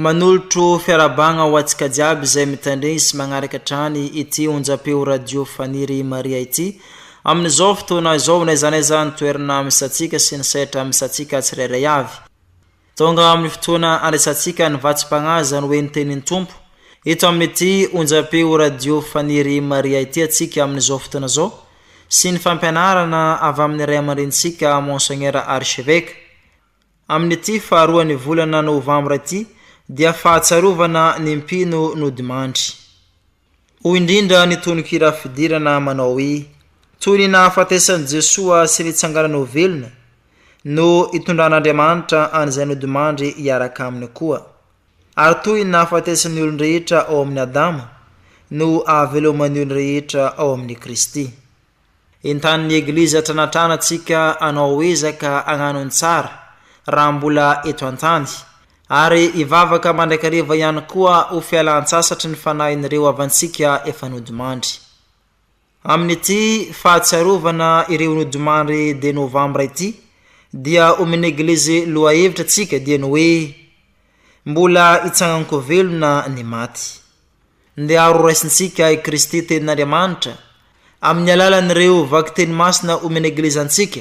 Manolotro fiarahabagna ho antsika jiaby izay mitandregny sy magnaraka hatrany ity onjam-peo radio Faniry Maria ity, amin'izao fotoana izao n'aiza n'aiza ny toerana misy antsika sy ny sehatra misy antsika tsirairay avy. Tonga amin'ny fotoana andraisantsika ny vatsim-pagnaza no hoe ny tenin'ny Tompo, eto amin'ity onjam-peo radio Faniry Maria ity antsika amin'izao fotoana izao, sy ny fampianarana avy amin'ny Ray aman-drenintsika Monseigneur Archevêque, Amin'ity faharoan'ny volana novambra ity dia fahatsiarovana ny mpino nodimandry. Hoy indrindra ny tononkira fidirana manao hoe, Toy ny nahafatesan'i Jesoa sy nitsanganany ho velona no itondran'Andriamanitra an'izay nodimandry hiaraka aminy koa. Ary toy ny nahafatesan'ny olon-drehetra ao amin'i Adama no ahaveloman'ny olon-rehetra ao amin'i Kristy. Entanin'ny Eglizy atranatrana tsika anao ezaka agnano ny tsara raha mbola eto an-tany, ary ivavaka mandrakariva ihany koa ho fialan-tsasatry ny fanahin'ireo havantsika efa nodimandry. Amin'ity fahatsiarovana ireo nodimandry de novambra ity dia omen'ny Eglizy lohahevitra tsika dieny hoe, Mbola hitsangan-ko velona ny maty. Ndeha horaisintsika i Kristy Tenin'Andriamanitra amin'ny alalan'ireo vakiteny masina homen'ny Eglizy antsika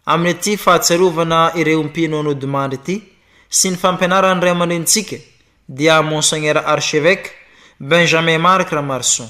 amin'ity fahatsiarovana ireo mpino nodimandry ity sy ny fampianaran'ny ray aman-drenintsika dia Monseigneur Archevêque Benjamin Marc Ramarson.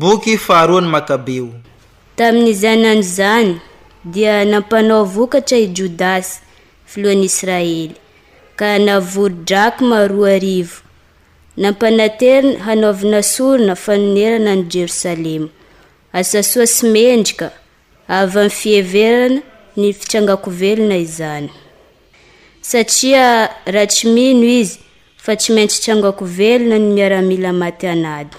Boky faharoa ny Makabeo. Tamin' izany andro izany dia nampanao vokatra i Jodasy, filohan' Israely, ka navory drakma roa arivo, nampanateriny hanaovana sorona fanonerana an' i Jerosalema, asa soa sy mendrika avy amin' ny fiheverana ny fitrangan-ko velona izany. Satria raha tsy mino izy fa tsy maintsy tsangako velona ny miaramila maty an'ady,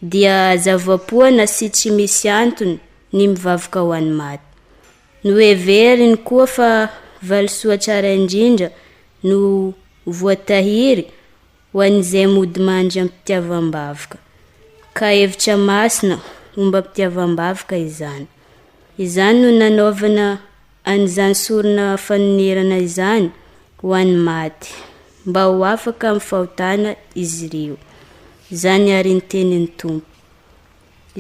dia zava-poana sy tsy misy antony ny mivavaka ho an'ny maty. Noheveriny koa fa valisoa tsara indrindra no voatahiry ho an'izay mody mandry am-pitiavam-bavaka, ka hevitra masina ombam-pitiavam-bavaka izany. Izany no nanaovana an'izany sorona fanonerana izany ho an'ny maty, mba ho afaka amin'ny fahotana izy ireo. Izany àry ny tenin'ny Tompo.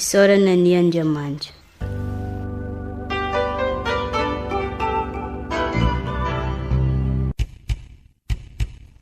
Isaorana anie Andriamanitra!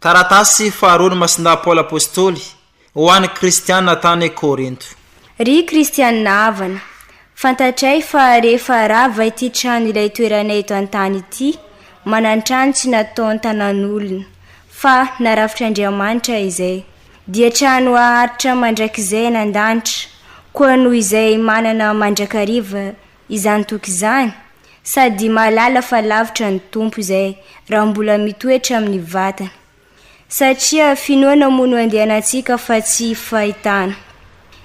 Taratasy faharoan'i Masina Paoly Apostoly ho an'ny Kristiana tany Korinto. Ry Kristiana havana, fantatray fa rehefa rava ity trano ilay toeranay eto an-tany ity, manan-trano tsy nataon tanan'olona, fa narafitr'Andriamanitra izay, dia trano haharitra mandrakizay any an-danitra, koa noho izay manana mandrakariva izany toky izany? Sady mahalala fa lavitra ny Tompo izay raha mbola mitoetra amin'ny vatana. Satria finoana moa no andehanantsika fa tsy fahitana.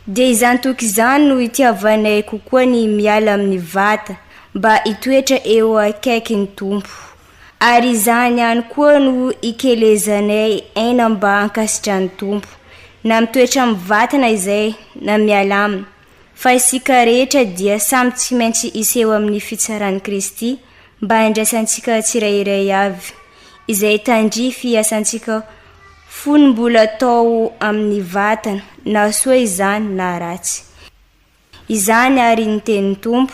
Dia izany toky izany no itiavanay kokoa ny miala amin'ny vata mba hitoetra eo akaiky ny Tompo. Ary izany ihany koa no ikelezanay aina mba hankasitrahan'ny Tompo, na mitoetra amin'ny vatana izay na miala aminy. Fa isika rehetra dia samy tsy maintsy hiseho amin'ny fitsaran'i Kristy mba handraisantsika tsirairay avy izay tandrify hiasantsika fony mbola tao amin'ny vatana, na soa izany na ratsy. Izany àry ny tenin'ny Tompo.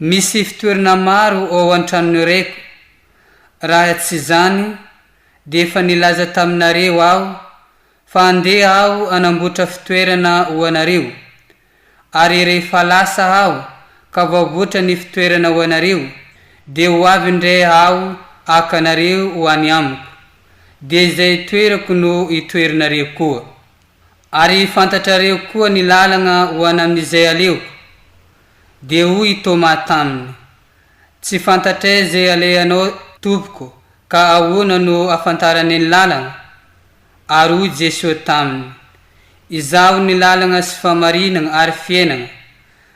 Misy fitoerana maro ao an-tranon'i Reko. Raha tsy izany dia efa nilaza taminareo aho fa handeha aho hanamboatra fitoerana ho anareo. Ary rehefa lasa aho ka voavoatra ny fitoerana ho anareo, dia ho avy indray aho haka anareo ho any amiko, dia izay itoerako no itoerinareo koa. Ary fantatrareo koa ny lalagna ho an' amin'izay aleoko. Dia hoy i Tômà taminy, Tsy fantatray izay alehanao, Tompoko, ka ahoana no afantaranay ny lalagna? Ary hoy Jesoa taminy, Izaho ny lalagna sy famarinagna ary fiainagna,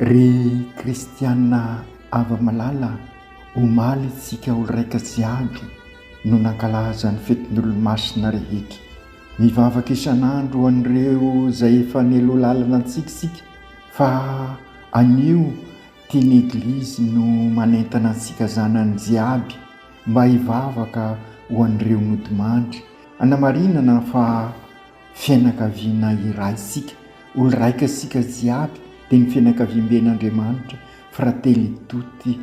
Ry kristiana hava-malala, omaly isika olon-draika sy andry no nankalaza ny fetin'Olomasina rehetra. Mivavaka isan'andro ho an'ireo izay efa nialoha lalana antsika isika fa anio ity ny Eglizy no manentana antsika zanany jiaby mba hivavaka ho an'ireo nodimandry, hanamarinana fa Fianakaviana iray isika, olo-raika isika jiaby dia ny fianakaviamben' Andriamanitra, fratelli tutti,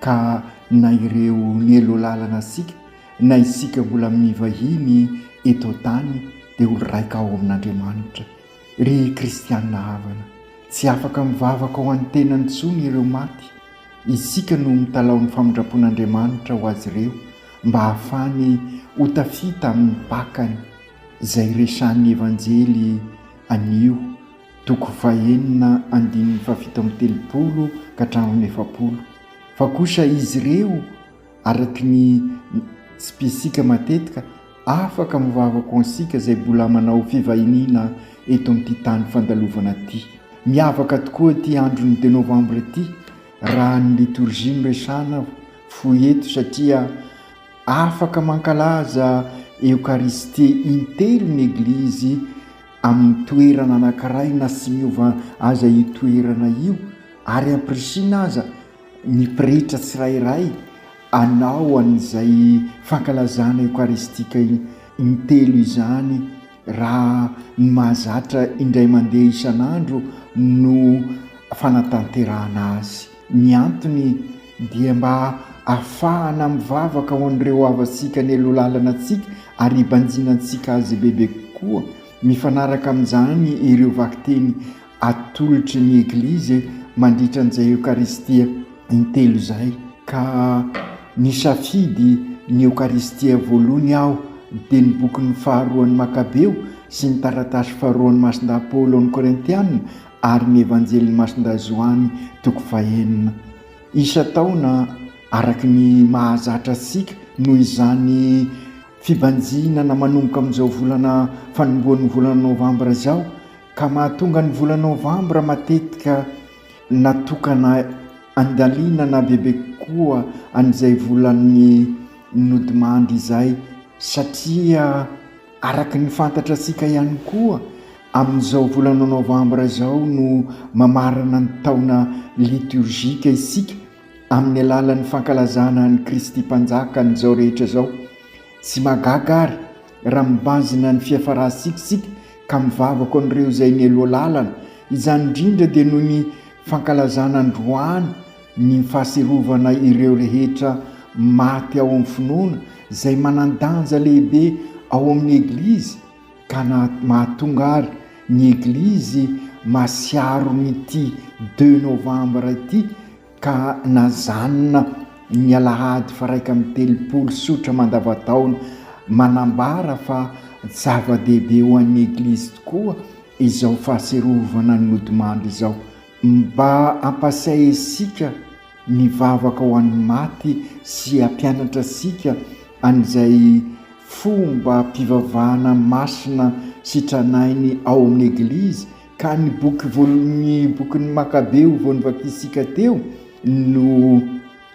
ka na ireo nielo lalana isika na isika mbola mivahiny eto an-tany dia olo-raika ao amin' Andriamanitra. Ry kristiana havana, tsy afaka mivavaka ho an'ny tenany intsony ireo maty, isika no mitalaho ny famindram-pon' Andriamanitra ho azy ireo mba hahafahany ho tafita amin'ny pakany. izay resahan'ny Evanjely anio, toko fahenina andininy fahafito amby telopolo ka hatramin'ny efapolo, fa kosa izy ireo, araka ny tsipisika matetika, afaka mivavaka ho antsika izay mbola manao fivahiniana eto amin'ity tany fandalovana ity. Miavaka tokoa ity andron'ny deux novembre ity raha ny litorjia no resahana fo eto satria, Afaka mankalaza Eokaristia intelo ny Eglizy amin'ny toerana anankiray na tsy miova aza io toerana io ary ampirisiana aza ny pretra tsirairay hanao an'izay fankalazana eokaristika intelo izany raha ny mahazatra indray mandeha isan'andro no fanatanterahana azy. Ny antony. dia mba afahana mivavaka ho an'ireo havantsika nelo lalana antsika ary hibanjina antsika azy bebe kokoa, mifanaraka amin'izany ireo vakiteny atolotry ny Eglizy mandritra an'izay Eokaristia intelo izay, ka nisafidy ny Eokaristia voalohany aho dia ny bokin'ny faharoan'ny Makabeo sy ny taratasy faharoan'ny Masindahy Paoly ao amin'ny Korintiana ary ny Evanjelin'i Masindahy Joany toko fahenina. Isan-taona, araka ny mahazatra antsika, noho izany fibanjinana manomboka amin'izao volana fanombohan'ny volana novambra izao, ka mahatonga ny volana novambra matetika natokana handalinana bebe kokoa an'izay volan'ny nodimandry izay, satria Araka ny fantatratsika ihany koa, amin'izao volana novambra izao no mamarana ny taona litiorjika isika amin'ny alalan'ny fankalazana an'i Kristy Mpanjaka an'izao rehetra izao. Tsy mahagaga àry raha mibanjina ny fiafarantsika isika ka mivavaka an'ireo izay nialoha lalana, izany indrindra dia noho ny fankalazana androany, Ny fahatsiarovana ireo rehetra maty ao amin'ny finoana izay manan-danja lehibe ao amin'ny Eglizy ka mahatonga ary ny Eglizy masiaro an'ity deux novembre ity ka najanona ny alahady faraika amby telopolo sotra mandavan-taona manambara fa zava-dehibe ho an'ny Eglizy tokoa izao fahatsiarovana ny nodimandry izao. Mba ampasahy asika mivavaka ho an'ny maty sy hampianatra asika an'izay fombam-pivavahana masina sitranahiny ao amin'ny Eglizy ka ny boky voalohan'ny bokin'ny Makabeo vao novakisika teo no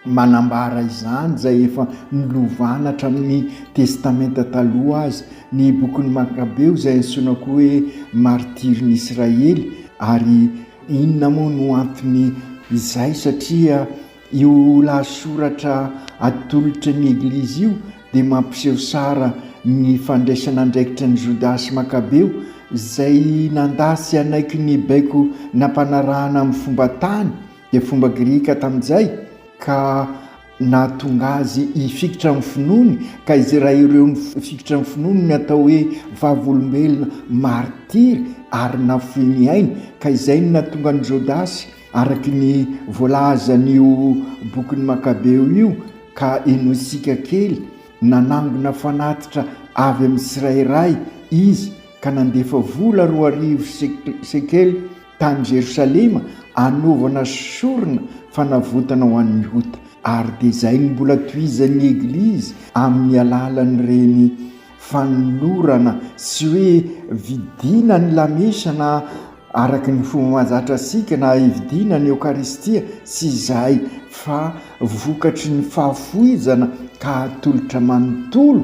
Manambara izany izay efa nolovana hatramin'ny Testamenta Taloha aza, ny Bokin'ny Makabeo, izay antsoina koa hoe Martirin'i Israely. Ary inona moa no anton'ny izay? Satria io lahasoratra atolotry ny Eglizy io dia mampiseho sara ny fandraisana andraikitry an'i Jodasy Makabeo, izay nandà tsy hanaiky ny baiko nampanarahana amin'ny fomba tany, Dia fomba grika tamin'izay ka nahatonga azy hifikitra amin'ny finoany, ka izay raha ireo nifikitra ny finoany no atao hoe vavolombelona martiry ary nafoy ny ainy, ka izay no nahatonga an'i Jodasy araka ny voalazan'io bokin'ny Makabeo io, ka henointsika kely, nanangona fanatitra avy amin'ny tsirairay izy ka nandefa vola roa arivo sekely, Tany Jerosalema anaovana sorona fanavotana ho an'ny ota, ary dia izay no mbola tohizan'ny Eglizy amin'ny alalan'ireny fanolorana sy hoe vidiana ny lamesa na araka ny fomba mahazatra antsika na hividiana ny Eokaristia sy izay fa vokatry ny fahafoizana ka atolotra manontolo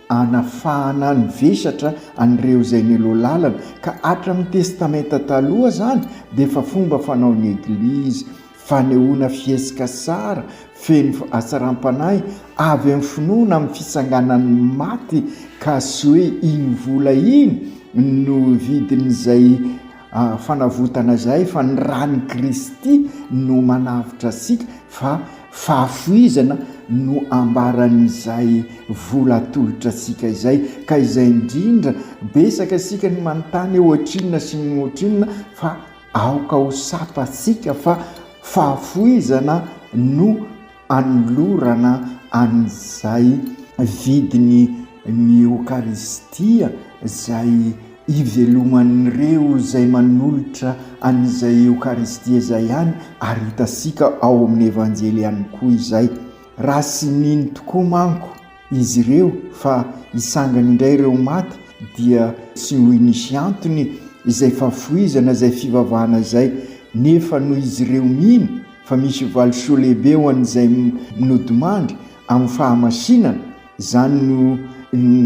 hanafahana ny vesatra an'ireo izay niloa-lalana, ka hatramin'ny Testamenta Taloha izany dia efa fomba fanaon'ny Eglizy, fanehoana fihetsika tsara, feno hatsaram-panahy, avy amin'ny finoana amin'ny fitsanganan'ny maty, ka tsy hoe iny vola iny no vidin'izay. Fanavotana izay fa ny ran'i Kristy no manavotra antsika fa fahafoizana no ambaran'izay vola atolotra antsika izay ka izay indrindra betsaka isika ny manontany hoe ohatrinona sy ny ohatrinona fa aoka ho sapantsika fa fahafoizana no anolorana an'izay vidiny ny Eokaristia izay iveloman'ireo izay manolotra an'izay Eokaristia izay ihany ary hitantsika ao amin'ny Evanjely ihany koa izay. Raha tsy nino tokoa manko. izy ireo fa hisangana indray ireo maty dia tsy hoy nisy antony izay fahafoizana izay fivavahana izay nefa noho izy ireo mino fa misy valisoa lehibe ho an'izay nodimandry amin'ny fahamasinana izany no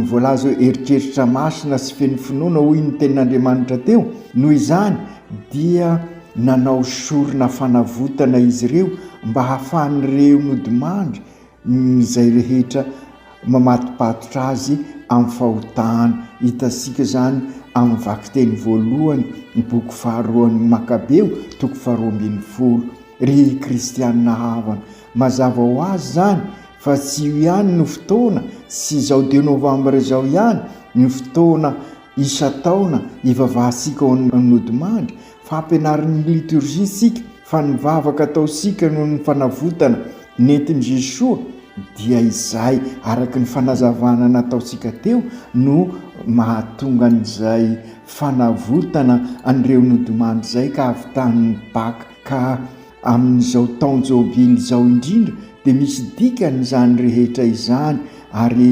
voalaza hoe eritreritra masina sy feno finoana hoy ny tenin'Andriamanitra teo noho izany dia nanao sorona fanavotana izy ireo mba hahafahan'ireo nodimandry izay rehetra mamatopatotra azy amin'ny fahotana. Hitantsika izany amin'ny vakiteny voalohany ny boky faharoan'ny Makabeo, toko faharoa ambin'ny folo. Ry kristiana havana, mazava ho azy izany fa tsy io ihany no fotoana, tsy izao deux novembre izao ihany no fotoana isan-taona hivavahantsika ao Nodimandry, Fampianarin'ny litorjia isika fa ny vavaka ataontsika noho ny fanavotana nentin'i Jesoa dia izay araka ny fanazavana nataontsika teo no mahatonga an'izay fanavotana an'ireo nodimandry izay ka avy tany Baka ka amin'izao taon-jobily izao indrindra dia misy dikany izany rehetra izany ary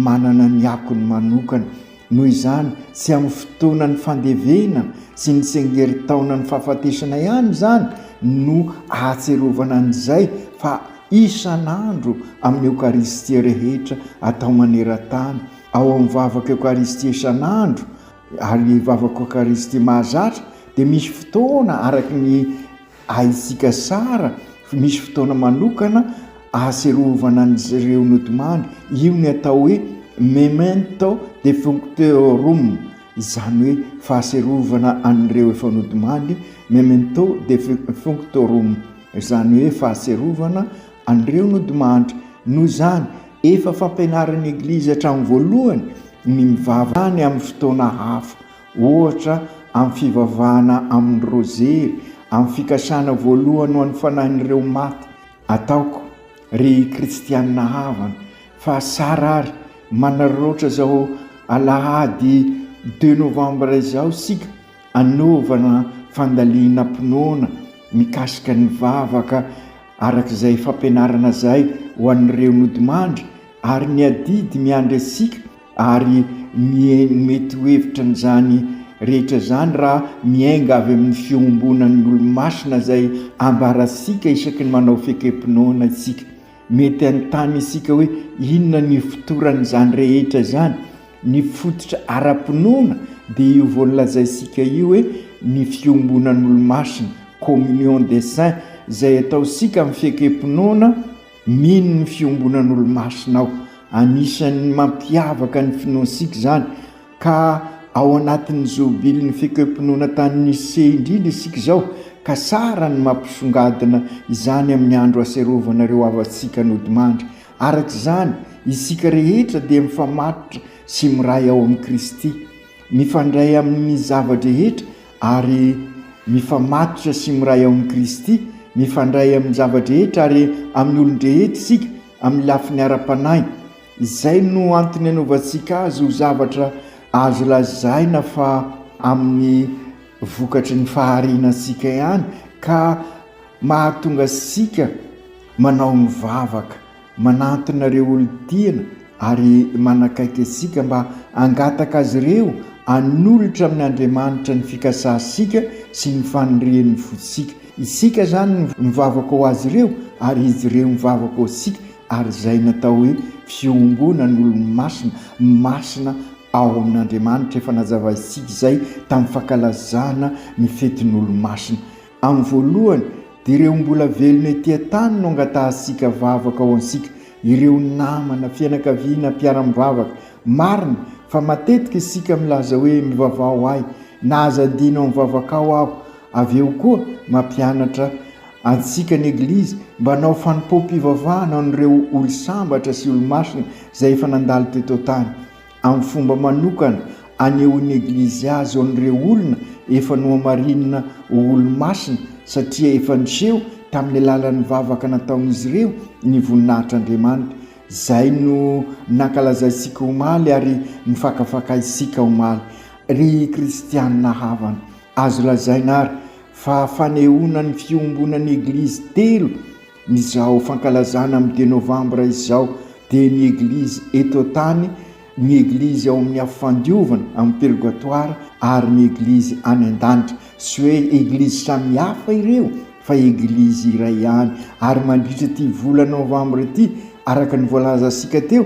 manana ny akony manokana Noho izany, tsy amin'ny fotoanan'ny fandevena sy ny tsengerin-taonan'ny fahafatesana ihany izany no ahatserovana an'izay fa isan'andro amin'ny Eokaristia rehetra atao maneran-tany, ao amin'ny vavaka Eokaristia isan'andro ary vavaka Eokaristia mahazatra dia misy fotoana araka ny Haintsika tsara fa misy fotoana manokana ahatsiarovana an'ireo nodimandry, io ny atao hoe memento defunctorum, izany hoe fahatsiarovana an'ireo efa nodimandry, memento defunctorum, izany hoe fahatsiarovana an'ireo nodimandry. Noho izany, efa fampianarin'ny Eglizy hatramin'ny voalohany ny mivavaka any amin'ny fotoana hafa. Ohatra, amin'ny fivavahana amin'ny rozery, amin'ny fikasana voalohany ho an'ny fanahin'ireo maty, ataoko, ry kristiana havana, fa sara ary manararaotra izao alahady deux novembre izao isika hanaovana fandalinam-pinoana mikasika ny vavaka araka izay fampianarana izay ho an'ireo nodimandry ary ny adidy miandry antsika Ary mihaino mety ho hevitra an'izany rehetra izany raha miainga avy amin'ny fiombonan'ny olo-masina izay ambarantsika isaky ny manao fekem-pinoana isika. Mety hanontany isika hoe, Inona no ifotoran'izany rehetra izany? Ny fototra ara-pinoana dia io voalazainsika io hoe ny fiombonan'olo-masina, communion des saints, izay ataontsika amin'ny fekem-pinoana, Mino ny fiombonan'olomasina aho. Anisan'ny mampiavaka ny finoantsika izany ka ao anatin'ny zobilin'ny fekoem-pinoana tany Nicée indrindra isika izao ka tsara ny mampisongadina izany amin'ny andro aserovana ireo havantsika nodimandry. Araka izany, isika rehetra dia mifamatotra sy miray ao amin'i Kristy. Mifandray amin' ny zava-drehetra ary mifamatotra sy miray ao amin' i Kristy. Mifandray amin' ny zava-drehetra ary amin' ny olon-drehetra isika amin' ny lafiny ara-panahy. Izay no antony anaovantsika azy ho zavatra azo lazaina fa amin' ny vokatry ny faharianantsika ihany ka mahatonga antsika manao ny vavaka. Manantona ireo olon-tiana ary manakaiky antsika mba hangataka azy ireo hanolotra amin' Andriamanitra ny fikasantsika sy ny fanirian' ny fontsika. Isika izany no mivavaka ho azy ireo ary izy ireo mivavaka ho antsika ary izay no atao hoe fiombonana olo-masina, masina ao amin' Andriamanitra. Efa nazavaintsika izay tamin'ny fankalazana ny fetin' olo-masina. Amin'ny voalohany, dia ireo mbola velona ety an-tany no angatahantsika vavaka ho antsika, ireo namana, fianakaviana, mpiara-mivavaka. Marina fa matetika isika milaza hoe, Mivavaha ho ahy, na aza adino amin'ny vavakao aho. Avy eo koa, mampianatra antsika ny Eglizy mba hanao fanompoam-pivavahana ho an'ireo olo-sambatra sy olo-masina izay efa nandalo teto an-tany. amin'ny fomba manokana anehoan'ny Eglizy azy ho an'ireo olona efa nohamarinina ho olo-masina, satria efa niseho tamin'ny alalan'ny vavaka nataon'izy ireo ny voninahitr'Andriamanitra. Izay no nankalazaintsika omaly ary nifakafakaintsika omaly, ry kristiana havana. Azo lazaina àry fa fanehoana ny fiombonan'ny Eglizy telo, Izao fankalazana amin'ny deux novembre izao dia ny eglizy eto an-tany, ny eglizy ao amin'ny afo fandiovana amin'ny purgatoire ary ny eglizy any an-danitra. Tsy hoe eglizy samihafa ireo fa eglizy iray ihany ary mandritra ity volana novembre ity araka ny voalazantsika teo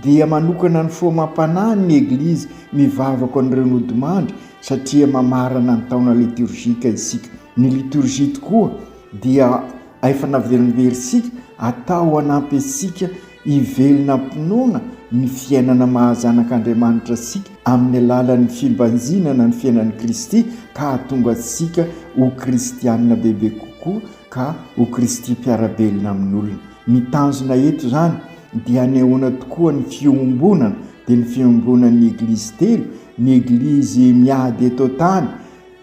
dia manokana ny foamam-panahy ny eglizy mivavako an'ireo nodimandry satria mamarana ny taona liturgique isika. Ny liturgie tokoa dia aefana velombersika atao hanampy antsika hivelona am-pinoana ny fiainana maha zanak'Andriamanitra antsika amin'ny alalan'ny fimbanjinana ny fiainan'i Kristy ka hahatonga antsika ho kristiana bebe kokoa ka ho Kristy mpiara-belona amin'olona. Ny tanjona eto izany dia hanehoana tokoa ny fiombonana dia ny fiombonan'ny Eglizy telo, ny Eglizy miady eto an-tany,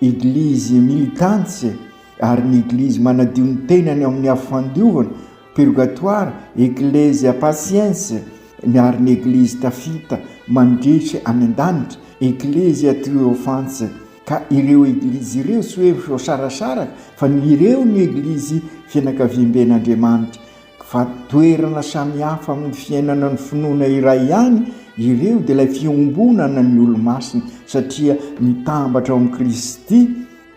Eglizy militante, Ary ny Eglizy manadio ny tenany ao amin'ny Afo-fandiovana, Purgatoire, Ecclesia Paciense, ary ny Eglizy tafita mandrehitra any an-danitra, Ecclesia Triumphantia. Ka ireo Eglizy ireo tsy hoe voasarasaraka fa ireo no Eglizy fianakaviamben'Andriamanitra. Fa toerana samihafa amin'ny fiainana ny finoana iray ihany ireo dia ilay fiombonana ny Olomasina satria mitambatra ao amin'i Kristy,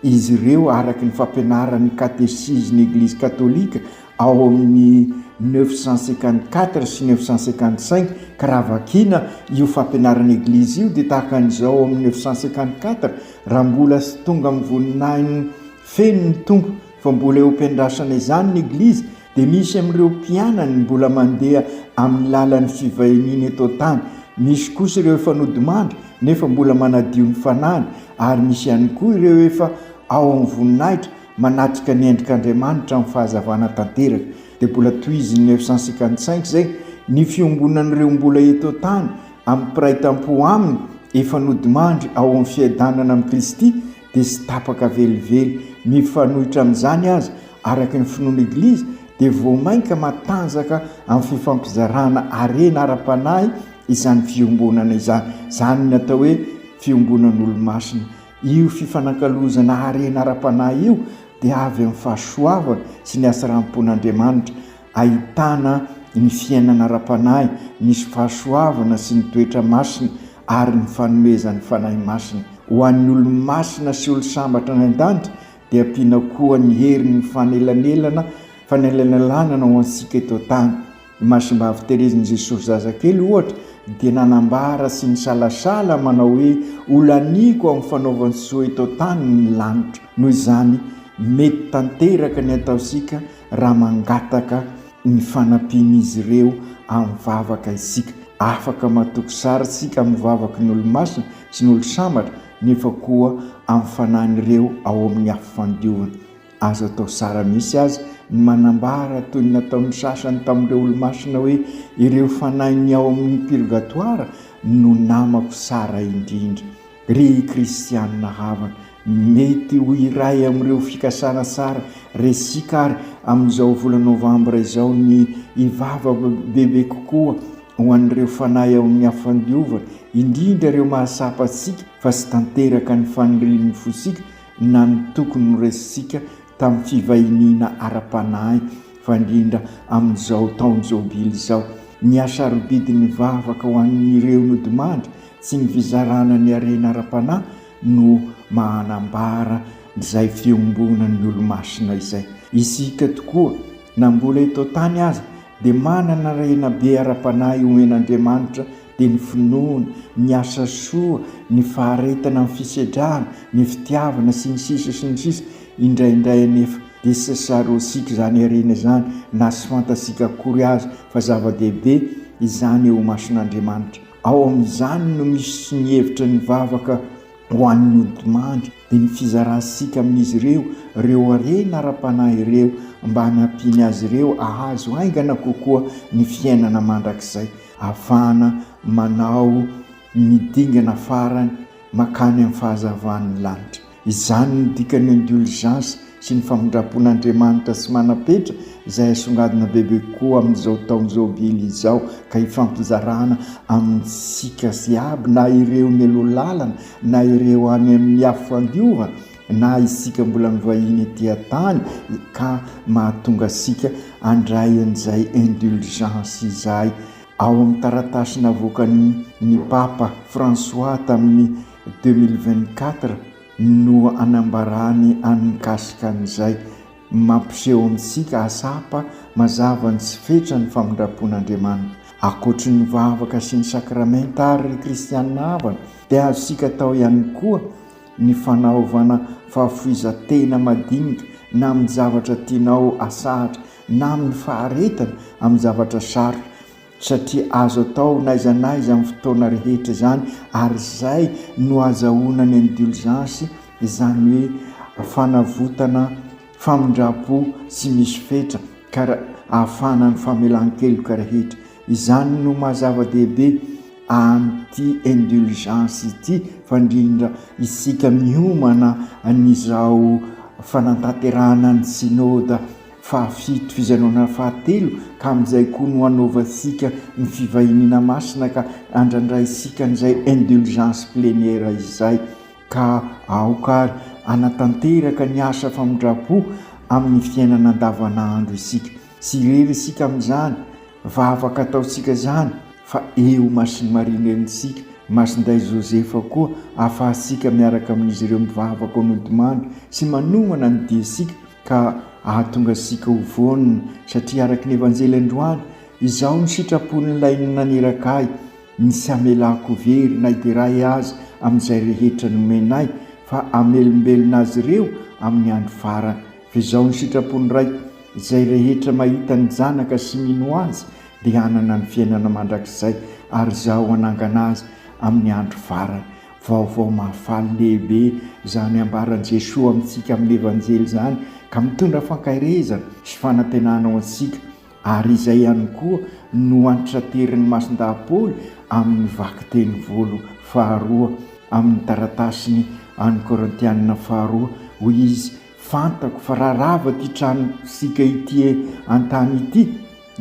Izy ireo araka ny fampianaran'ny Katesizin'ny Eglizy Katolika ao amin'ny neuf cent cinquante quatre sy neuf cent cinquante cinq ka raha vakiana io fampianaran'ny Eglizy io dia tahaka an'izao ao amin'ny neuf cent cinquante quatre raha mbola sy tonga amin'ny voninahiny feno ny Tompo fa mbola eo am-piandrasana izany ny Eglizy dia misy amin'ireo mpianany mbola mandeha amin'ny lalan'ny fivahiniana eto an-tany, misy kosa ireo efa nodimandry nefa mbola manadio ny fanahiny, ary misy ihany koa ireo efa ao amin'ny voninahitra manatrika ny endrik'Andriamanitra amin'ny fahazavana tanteraka. Dia mbola tohizin'i 955 izay, Ny fiombonan'ireo mbola eto an-tany amin'ny mpiray tam-po aminy efa nodimandry ao amin'ny fiadanana amin'i Kristy dia tsy tapaka velively. Mifanohitra amin'izany aza, araka ny finoan'ny Eglizy, dia vao mainka matanjaka amin'ny fifampizarana harena ara-panahy izany fiombonana izany. Izany no atao hoe fiombonan'olo-masina. Io fifanankalozana harena ara-panahy io dia avy amin'ny fahasoavana sy ny hatsaram-pon'Andriamanitra, ahitana ny fiainana ara-panahy, ny fahasoavana sy ny toetra masina, ary ny fanomezan'ny Fanahy Masina ho an'ny olo-masina sy olo-sambatra any an-danitra dia ampiana koa ny herin'ny fanelanelana fanelanelanana ho antsika eto an-tany. I Masimbavy Terezin'i Jesosy Zazakely, ohatra, dia nanambara sy nisalasala manao hoe, Ho laniako amin'ny fanaovan-tsoa eto an-tany ny lanitra. Noho izany, mety tanteraka ny ataontsika raha mangataka ny fanampian'izy ireo amin'ny vavaka isika. Afaka matoky sary isika amin'ny vavaky ny olo-masina sy ny olo-sambatra, nefa koa amin'ny fanahin'ireo ao amin'ny afo fandiovana. Azo atao zara misy aza ny manambara, toy ny nataon'ny sasany tamin'ireo olo-masina hoe, Ireo fanahin'ny ao amin'ny pirgatoara no namako tsara indrindra. Ry kristianina havana, mety ho iray amin'ireo fikasana tsara resika àry amin'izao volana novambra izao ny hivavaka bebe kokoa ho an'ireo fanahy ao amin'ny hafandiovana, indrindra ireo mahatsapa antsika fa tsy tanteraka ny fanirian'ny fontsika na ny tokony noresintsika tamin'ny fivahiniana ara-panahy, fa indrindra amin'izao taon-jobily izao. Ny hasarobidin'ny vavaka ho an'ireo nodimandry Tsy ny fizarana ny harena ara-panahy no mahanambara izay fiombonan'ny olomasina izay. Isika tokoa, na mbola eto an-tany aza, dia manana harena be ara-panahy omen'Andriamanitra, dia ny finoana, ny asa soa, ny faharetana amin'ny fisedrana, ny fitiavana, sy ny sisa sy ny sisa Indraindray anefa dia tsy tsaroantsika izany harena izany, na tsy fantatsika akory aza fa zava-dehibe izany eo imason'Andriamanitra. Ao amin'izany no misy ny hevitra ny vavaka ho an'ny odimandry dia ny fizarantsika amin'izy ireo ireo harena ara-panahy ireo mba hanampiany azy ireo hahazo haingana kokoa ny fiainana mandrakizay ahafahana manao ny dingana farany makany amin'ny fahazavan'ny lanitra. Izany no dikan'ny indulgence sy ny famindrapon' Andriamanitra sy manam-petra izay asongadina bebe kokoa amin'izao taon jobily izao ka ifampizarana amintsika ziaby na ireo nialoha lalana na ireo any amin'ny afo fandiova na isika mbola mivahiny ety an-tany ka mahatonga asika andray an'izay indulgence izay ao amin'ny taratasy navoakan'ny Papa François tamin'ny Deux mille vingt quatre no anambarany any mikasika an'izay mampiseho amintsika hatsapa mazava ny tsy fetran'ny famindram-pon'Andriamanitra. Ankoatry ny vavaka sy ny sakramenta àry, ry kristiana havana, dia azontsika atao ihany koa ny fanaovana fahafoizan-tena madinika na amin'ny zavatra tianao hatsahatra na amin'ny faharetana amin'ny zavatra sarotra, satria azo atao n'aiza n'aiza amin'ny fotoana rehetra izany ary izay no azahoana ny indulgence izany hoe fanavotana famindrampo tsy misy fetra ka ahafahana ny famelan-keloka rehetra izany no maha zava-dehibe an'ity indulgence ity fa indrindra isika miomana an'izao fanantanterahana ny synode Fahafito, fizanoana fahatelo, ka amin'izay koa no hanaovantsika ny fivahiniana masina ka handrandraintsika an'izay indulgence plénière izay. Ka aoka ary hanatanteraka ny asa famindram-po amin'ny fiainana andavanandro isika. Tsy irery isika amin'izany vavaka ataontsika izany fa eo Masin'i Maria Renintsika, Masindahy Joseph koa ahafahantsika miaraka amin'izy ireo mivavaka ao Nodimandry sy manomana ny diantsika ka hahatonga antsika ho vonona, satria araka ny Evanjely androany, izao no sitrapon'Ilay naniraka ahy, ny tsy hamelako very na iray aza amin'izay rehetra nomenay, fa hamelombelona azy ireo amin'ny andro farany. Fa izao no sitrapon'ny Raiko, izay rehetra mahita ny Zanaka sy mino Azy dia hanana ny fiainana mandrakizay, ary Izaho hanangana azy amin'ny andro farany. Vaovao mahafaly lehibe izany ambaran'i Jesoa amintsika amin'ny Evanjely izany ka mitondra fankaherezana sy fanantenana ho antsika ary izay ihany koa no antraterin'ny Masindahy Paoly amin'ny vakiteny volo faharoa amin'ny taratasiny an'ny Korintiana faharoa hoy izy Fantako fa raha rava ity tranon-tsika ity an-tany ity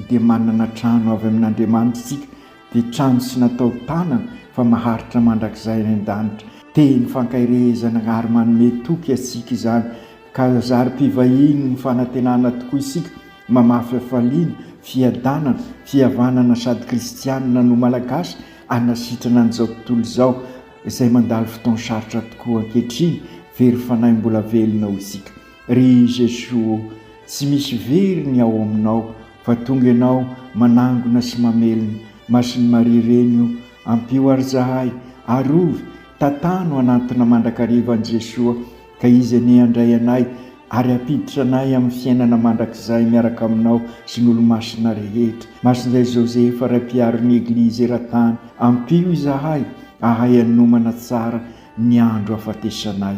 dia manana trano avy amin'Andriamanitra isika Dia trano sy natao tanana fa maharitra mandrakizay any an-danitra. Teny fankaherehezana ary manome toky antsika izany ka zary mpivahiny ny fanantenana tokoa isika mamaha fifaliana, fiadanana, fihavanana sady kristianina no Malagasy hanasitrana an'izao tontolo izao izay mandalo fotoan-sarotra tokoa ankehitriny. Very fanahy mbola velona hoy isika ry Jesoa ô! Tsy misy very ny ao aminao fa tonga ianao manangona sy mamelona Masin'i Maria reny o ampio ary zahay arovy tantano hanantona mandrakariva an'i Jesoa ka Izy anie handray anay ary hampiditra anay amin'ny fiainana mandrakizay miaraka aminao sy ny olomasina rehetra Masin'izay Josefa Ray mpiaron'ny Eglizy eran-tany ampio izahay ahay hanomana tsara ny andro hafatesanay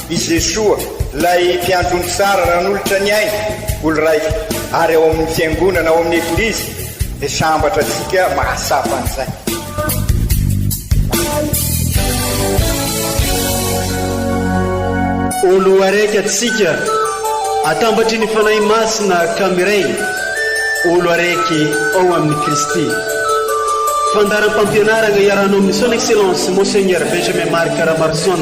I Jesoa, ilay Mpiandry ny tsara nanolotra ny ainy ho lraiko, ary ao amin'ny Fiangonana, ao amin'ny Eglizy, dia sambatra antsika mahatsapa an'izay. Olo araiky antsika, atambatry ny Fanahy Masina ka miray, olo araiky ao amin'i Kristy. Fandaharam-pampianarana iarahanao amin'ny Son Excellence Monseigneur Benjamin Marc Ramarson.